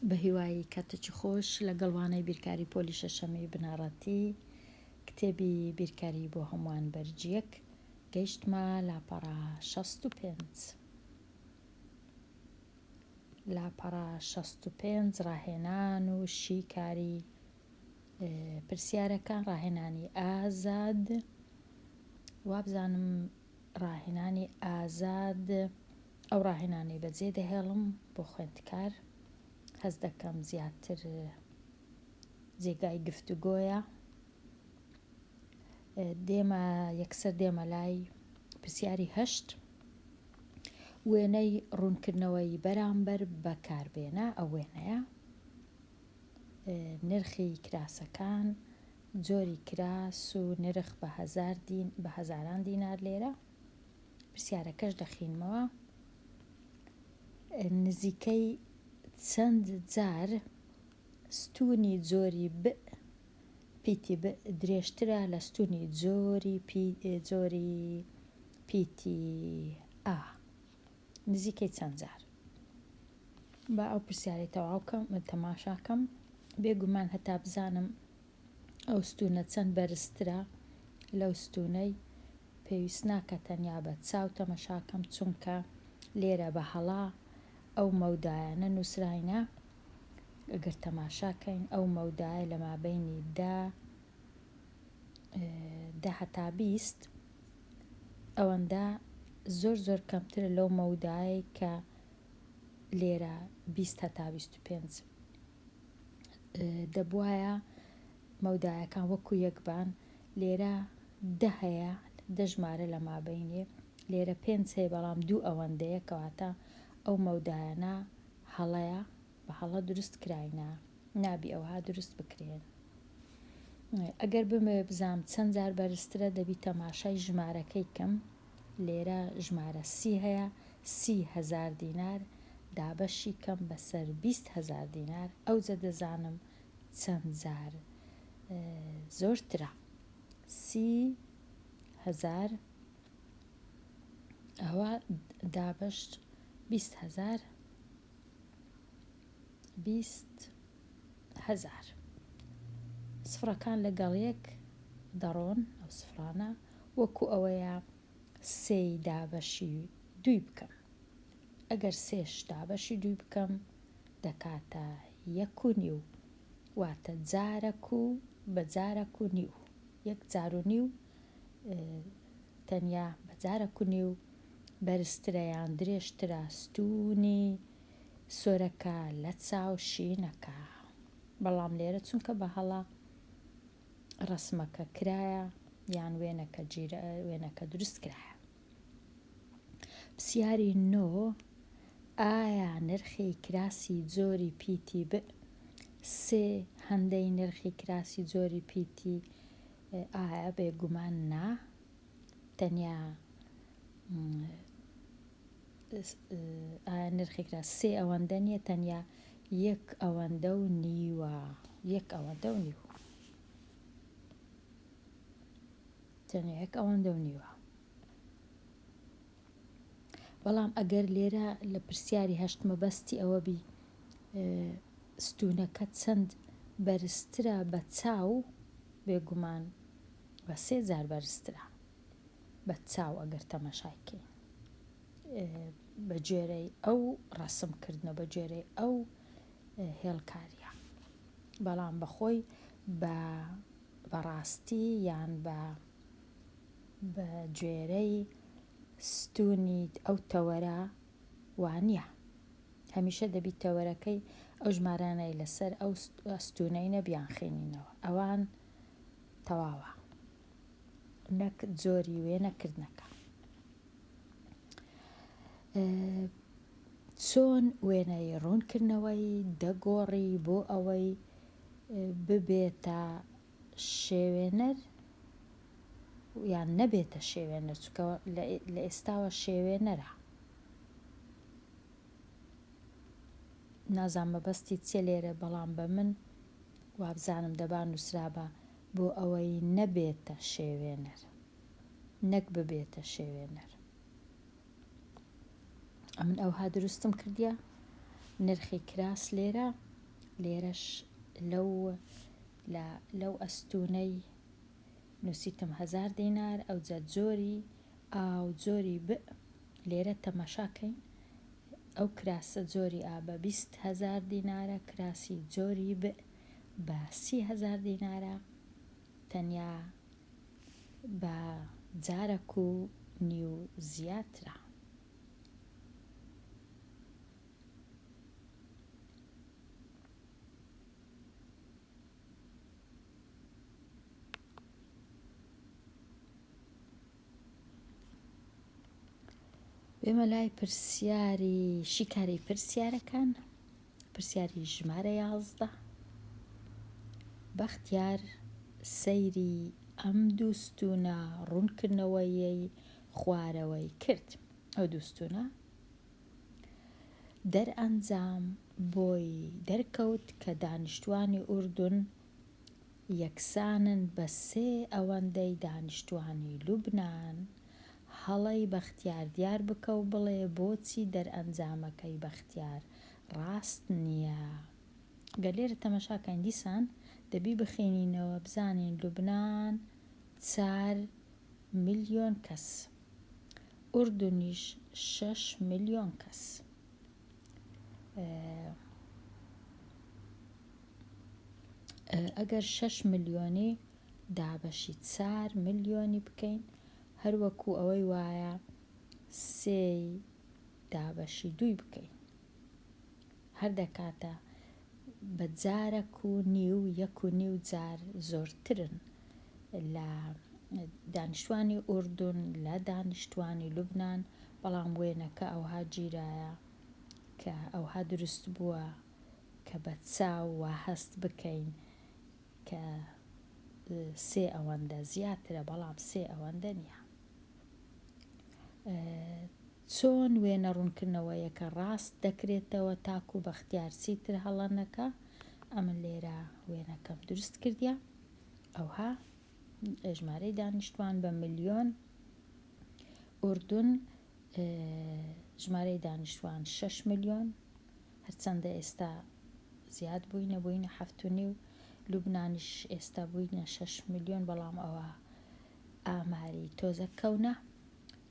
بەهیوای کاتێکی خۆش لەگەڵ وانەی بیرکاری پۆلی شەشەمی بنەڕەتی کتێبی بیرکاری بۆ هەمووان بەرج یەک گەیشتمە لاپەڕە شەست و پێنج لاپەڕە شەست و پێنج ڕاهێنان و شیکاری پرسیارەکان ڕاهێنانی ئازاد وابزانم ڕاهێنانی ئازاد ئەو ڕاهێنانەی بەجێ دەهێڵم بۆ خوێندکار هەست دەکەم زیاتر جێگای گفتوگۆیە دێمە یەکسەر دێمە لای پرسیاری هەشت وێنەی ڕوونکردنەوەی بەرامبەر بەکاربێنە ئەو وێنەیە نرخی کراسەکان جۆری کراس و نرخ بە هەزار دین بە هەزاران دینار لێرە پرسیارەکەش دەخینمەوە نزیکەی چەند جار ستونی جۆری ب پیتی ب درێژترە لە ستونی جۆری پی جۆری پیتی ئا نزیکەی چەند جار. با ئەو پرسیارەی تەواو کەم تەماشا کەم، بێ گومان هەتا بزانم ئەو ستوونە چەند بەرزترە لەو ستوونەی، پێویست ناکا تەنیا بە چاو تەمەشا کەم، چونکە لێرە بە هەڵا ئەو مەودایانە نووسراینە، گەر تەماشا کەین ئەو مەودایە لە مابەینی دە، دە هەتا بیست ئەوەندە زۆر زۆر کەمترە لەو مەودایەی کە لێرە بیست هەتا بیست و پێنج دەبواە مەودایەکان وەکو یەکبان لێرە دە هەیە دەژمارە لە مابینێ لێرە پێنج هەیە بەڵام دوو ئەوەندەیە کەواتە ئەو مەودایانە هەڵەیە بە هەڵە دروست کراینە نابی ئەوها دروست بکرێن ئەگەر بمێ بزام چەند جار بەرزترە دەبی تەماشای ژمارەکەی کەم لێرە ژمارە سی هەیە سی هزار دینار دابەشی کەم بەسەر بیست هزار دینار ئەوجە دەزانم چەند جار زۆرترە سی هزار ئەوە دابەش بیست هزار بیست هەزار. سفڕەکان لەگەڵ یەک دەڕۆن، ئەو سفڕانە وەکو ئەوەیە سێی دابەشی دووی بکەم. ئەگەر سێش دابەشی دووی بکەم دەکاتە یەک و نیو، واتە جارەک و بە جارەک و نیو، یەک جار و نیو. تەنیا بە جارە کونی و بەرزترە یان درێژترە ستوونی سۆرەکە لە چاو شینەکە بەڵام لێرە چونکە بە هەڵە ڕسمەکە کرایە یان وێنەکە جیرە وێنەکە دروست کرایە پرسیاری نۆ ئایا نرخی کراسی جۆری پیتی ب سێ هەندەی نرخی کراسی جۆری پیتی ئایا بێگومان نا. تەنیا ئایا نرخێک لە سێ ئەوەندە نییە تەنیا یەک ئەوەندە و نیوە یەک ئەوەندە و نیوە تەنیا یەک ئەوەندە و نیوە بەڵام ئەگەر لێرە لە پرسیاری هەشت مەبەستی ئەوە بی ستونەکە چەند بەرزترە بە چاو بێگومان بە سێ جار بەرزترە بە چاو ئەگەر تەمەشای کەین بە جێرەی ئەو ڕسم کردنە بە جێرەی ئەو هێڵکاریە بەڵام بەخۆی بە بەڕاستی یان بە بە گوێرەی ستونی ئەو تەوەرە وانیە. هەمیشە دەبی تەوەرەکەی ئەو ژمارانەی لەسەر ئەو ستونەینە بیانخینینەوە. ئەوان تەواوە. نەک جۆری وێنە کردنەکە. چۆن وێنەی ڕوونکردنەوەی دەگۆڕی بۆ ئەوەی ببێتە شێوێنەر یان نەبێتە شێوێنەر چکە لە ئێستاوە شێوێنەرە نازان مەبەستی چێ لێرە بەڵام بە من وابزانم دەبا نووسرابە بۆ ئەوەی نەبێتە شێوێنەر نەک ببێتە شێوێنەر ئەمن ئەوها دروستم کردە نرخی کراس لێرە لێرەش لەو لە لەو ئەستوونەی نووسیتم هەزار دینار، ئەوجە جۆری ئا و جۆری بئ لێرە تەمەشا کەین، ئەو کراسە جۆری ئا بە بیست هەزار دینارە، کراسی جۆری بئ بە سی هەزار دینارە، تەنیا بە جارەک و نیو زیاترە. بێمە لای پرسیاری شیکاری پرسیارەکان پرسیاری ژمارە یازدە بەختیار سەیری ئەم دووستونە ڕوونکردنەوەیەی خوارەوەی کرد ئەو دووستونە دەرئەنجام بۆی دەرکەوت کە دانیشتوانی ئوردون یەکسانن بە سێ ئەوەندەی دانیشتوانی لوبنان، هەڵەی بەختیار دیار بکە و بڵێ بۆچی دەرئەنجامەکەی بەختیار ڕاست نییە. گەر لێرە تەمەشا کەین دیسان دەبی بخینینەوە بزانین لوبنان چار ملیۆن کەس. ئوردنیش شەش ملیۆن کەس ئەگەر شەش ملیۆنی دابەشی چار ملیۆنی بکەین هەروەکو ئەوەی وایە سێی دابەشی دووی بکەین هەر دەکاتە بە جارەک و نیو یەک و نیو جار زۆرترن لە دانیشتوانی ئوردون لە دانیشتوانی لوبنان بەڵام وێنەکە ئەوها گیرایە کە ئەوها دروست بووە کە بە چاو وا هەست بکەین کە سێ ئەوەندە زیاترە بەڵام سێ ئەوەندە نیە. چۆن وێنە ڕوونکردنەوەیەکە ڕاست دەکرێتەوە تاکو بەختیار چیتر هەڵە نەکا ئەمن لێرە وێنەکەم دروست کردە ئەوها ژمارەی دانیشتوان بە ملیۆن ئوردون ژمارەی دانیشتوان 6 ملیۆن هەرچەندە ئێستا زیاد بووینە بووینە هەفتونی و لوبنانیش ئێستا بووینە 6 ملیۆن بەڵام ئەوە ئاماری تۆزەک کەونە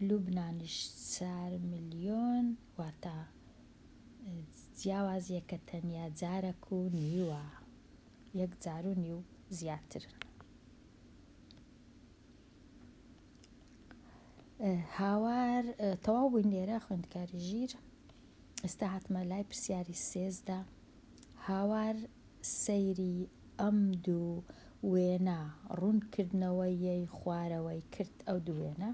لوبنانیش چار ملیۆن واتە جیاوازیەکە تەنیا جارەک و نیوە یەک جار و نیو زیاترن هاوار تەواو بووین لێرە خوێندکاری ژیر ئێستا هاتمە لای پرسیاری سێزدا هاوار سەیری ئەم دوو وێنە ڕوون کردنەوە ی خوارەوەی کرد ئەو دوو وێنە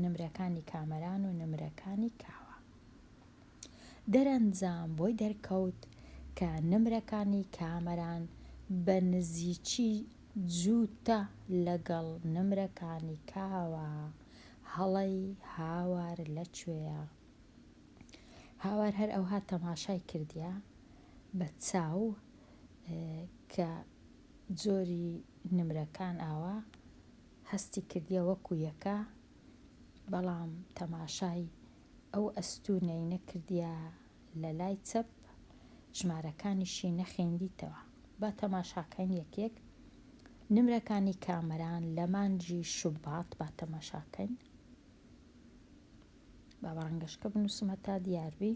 نمرەکانی کامەران و نمرەکانی کاوە دەرەنجام بۆی دەرکەوت کە نمرەکانی کامەران بە نزیکی جووتە لەگەڵ نمرەکانی کاوە هەڵەی هاوار لە کوێیە؟ هاوار هەر ئەوها تەماشای کردیە بە چاو کە جۆری نمرەکان ئاوا هەستی کردیە وەکو یەکە بەڵام تەماشای ئەو ئەستونەی نەکردیە لە لای چەپ ژمارەکانیشی نەخیندیتەوە با تەماشاکەین یەک یەک نمرەکانی کامەران لە مانجی شوبات با تەماشاکەین با بەڕەنگەشکە بنووسمە تا دیاربی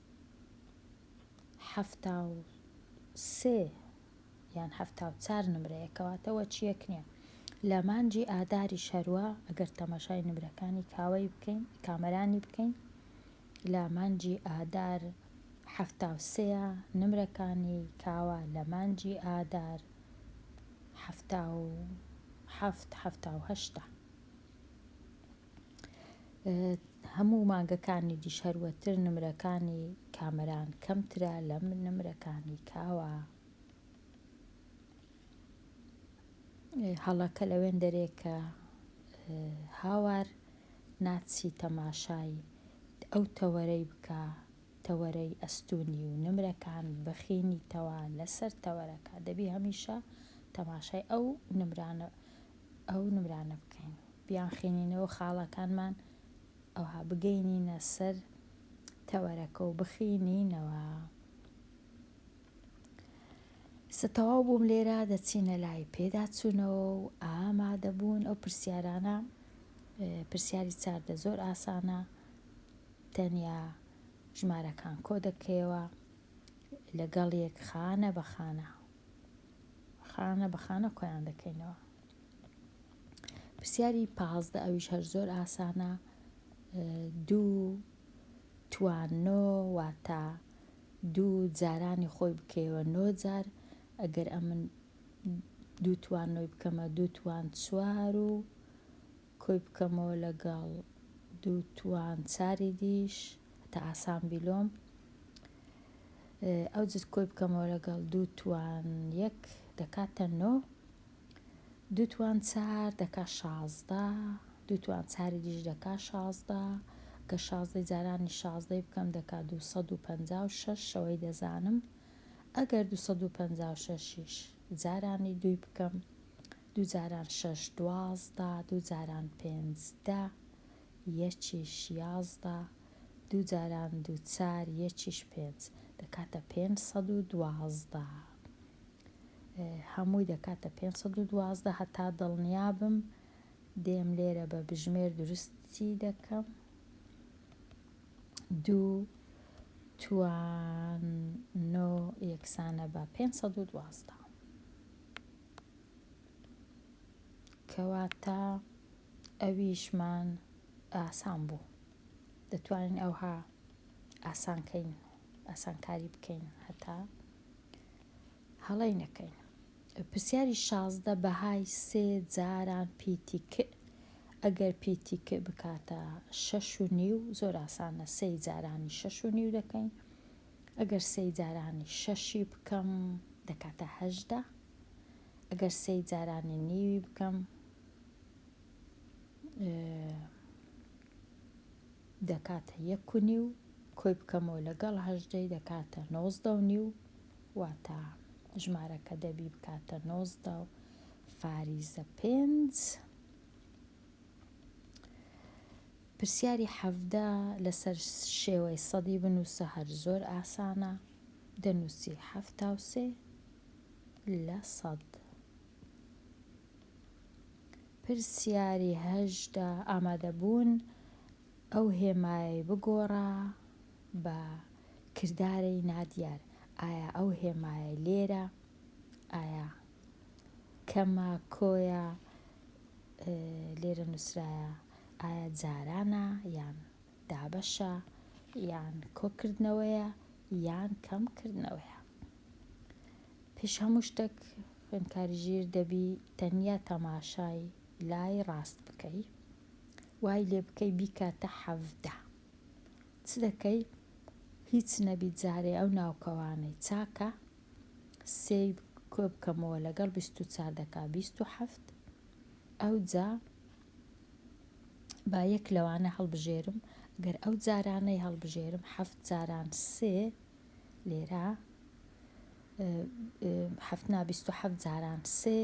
حەفتا و سێ یان حەفتا و چار نمرەیە کەواتە وەچیەک نیە لە مانجی ئاداری شەروە ئەگەر تەماشای نمرەکانی کاوەی بکەین کامەرانی بکەین لە مانجی ئادار حەفتا و سێە نمرەکانی کاوە لە مانجی ئادار حەفتا و حەفت حەفتا و هەشتا هەموو مانگەکانی دیش هەروەتر نمرەکانی کامەران کەمترە لەم نمرەکانی کاوە هەڵەکە لەوێن دەرێ کە هاوار ناچی تەماشای ئەو تەوەرەی بکە تەوەرەی ئەستونی و نمرەکان بەخینی تەوا لەسەر تەوەرەکە دەبی هەمیشە تەماشای ئەو نمرانە ئەو نمرانە بکەین بیانخینینەوە خاڵەکانمان ئەوها بگەینینە سەر تەوەرەکە و بخینینەوە ستەواو بووم لێرە دەچینە لای پێداچوونەوە و ئامادەبوون ئەو پرسیارانە پرسیاری چاردە زۆر ئاسانە تەنیا ژمارەکان کۆ دەکەیەوە لەگەڵ یەک خانە بەخانە خانە بە خانە کۆیان دەکەینەوە پرسیاری پازدە ئەویش هەر زۆر ئاسانە دوو توانۆ واتە دوو جارانی خۆی بکەیەوە نۆ جار ئەگەر ئەمن دوو توانۆی بکەمە دوو توان چوار و کۆی بکەمەوە لەگەڵ دوو توانساری دیش هەتا ئاسان بیلۆم ئەو جز کۆی بکەمەوە لەگەڵ دوو توان یەک دەکاتە نۆ دوو توان چار دەکا شازدە دوو توان چاری دیش دەکا شازدە گە شازدەی جارانی شازدەی بکەم دەکا دوو سەد و پەنجا و شەش شەوەی دەزانم ئەگەر دوو سەد و پەنجا و شەشیش جارانی دووی بکەم دوو جاران شەش دوازدە دوو جاران پێنج دە یەکیش یازدە دوو جاران دوو چار یەکیش پێنج دەکاتە پێنج سەد و دوازدە هەمووی دەکاتە پێنج سەد و دوازدە هەتا دڵنیابم دێم لێرە بە بژمێر دروستی دەکەم دوو توان نۆ یەکسانە بە پێنج سەد و دوازدە کەواتە ئەویشمان ئاسان بوو دەتوانین ئەوها ئاسانکەین ئاسانکاری بکەین هەتا هەڵەی نەکەین پرسیاری شازدە بەهای سێ جاران پیتی ک ئەگەر پیتی ک بکاتە شەش و نیو زۆر ئاسانە سێ جارانی شەش و نیو دەکەین ئەگەر سێ جارانی شەشی بکەم دەکاتە هەشدا ئەگەر سێی جارانی نیوی بکەم دەکاتە یەک و نیو کۆی بکەمەوە لەگەڵ هەژدەی دەکاتە نۆزدە و نیو واتە ژمارەکە دەبی بکاتە نۆزدە و فاریزە پێنج پرسیاری حەڤدە لەسەر شێوەی سەدی بنووسە هەر زۆر ئاسانە دەنووسی حەفتا و سێ لە سەد. پرسیاری هەژدە ئامادەبوون ئەو هێمایەی بگۆڕە بە کردارەی نادیار ئایا ئەو هێمایە لێرە ئایا کەمە کۆیە لێرە نووسرایە ئایا جارانە یان دابەشە یان کۆکردنەوەیە یان کەم کردنەوەیە پێش هەموو شتێک خوێنکاری ژیر دەبی تەنیا تەماشای لای ڕاست بکەی وای لێ بکەی بیکاتە حەفدە چ دەکەی هیچ نەبی جارێ ئەو ناوکەوانەی چاکە سێ کۆ بکەمەوە لەگەڵ بیست و چار دەکا بیست و حەفت ئەو جا با یەک لەوانە هەڵبژێرم، گەر ئەو جارانەی هەڵبژێرم حەفت جاران سێ لێرە حەفت نا بیست و حەفت جاران سێ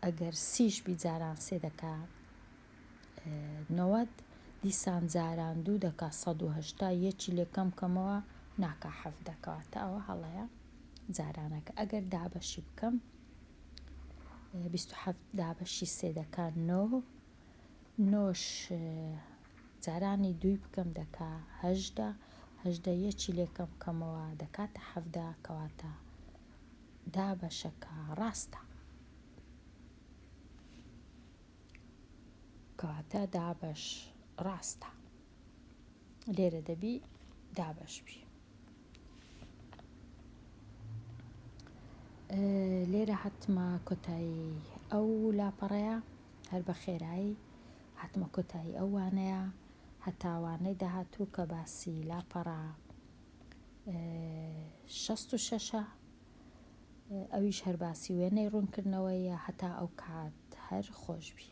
ئەگەر سیش بی جاران سێ دەکا نەوەد دیسان جاران دوو دەکا سەد و هەشتا یەکی لێ کەم کەمەوە ناکا حەفت دەکەواتە ئەوە هەڵەیە جارانەکە ئەگەر دابەشی بکەم بیست و حەفت دابەشی سێ دەکا نۆ نۆش جارانی دووی بکەم دەکا هەژدە هەژدە یەکی لێکەم بکەمەوە دەکاتە حەفدا کەواتە دابەشەکە ڕاستە کەواتە دابەش ڕاستە لێرە دەبی دابەش بی لێرە هاتمە کۆتایی ئەو لاپەڕەیە هەر بە خێرایی هاتمە کۆتایی ئەوانەیە هەتاوانەی داهاتوو کە باسی لاپەڕە شەست و شەشە ئەویش هەر باسی وێنەی ڕوونکردنەوەیە هەتا ئەو کات هەر خۆشببی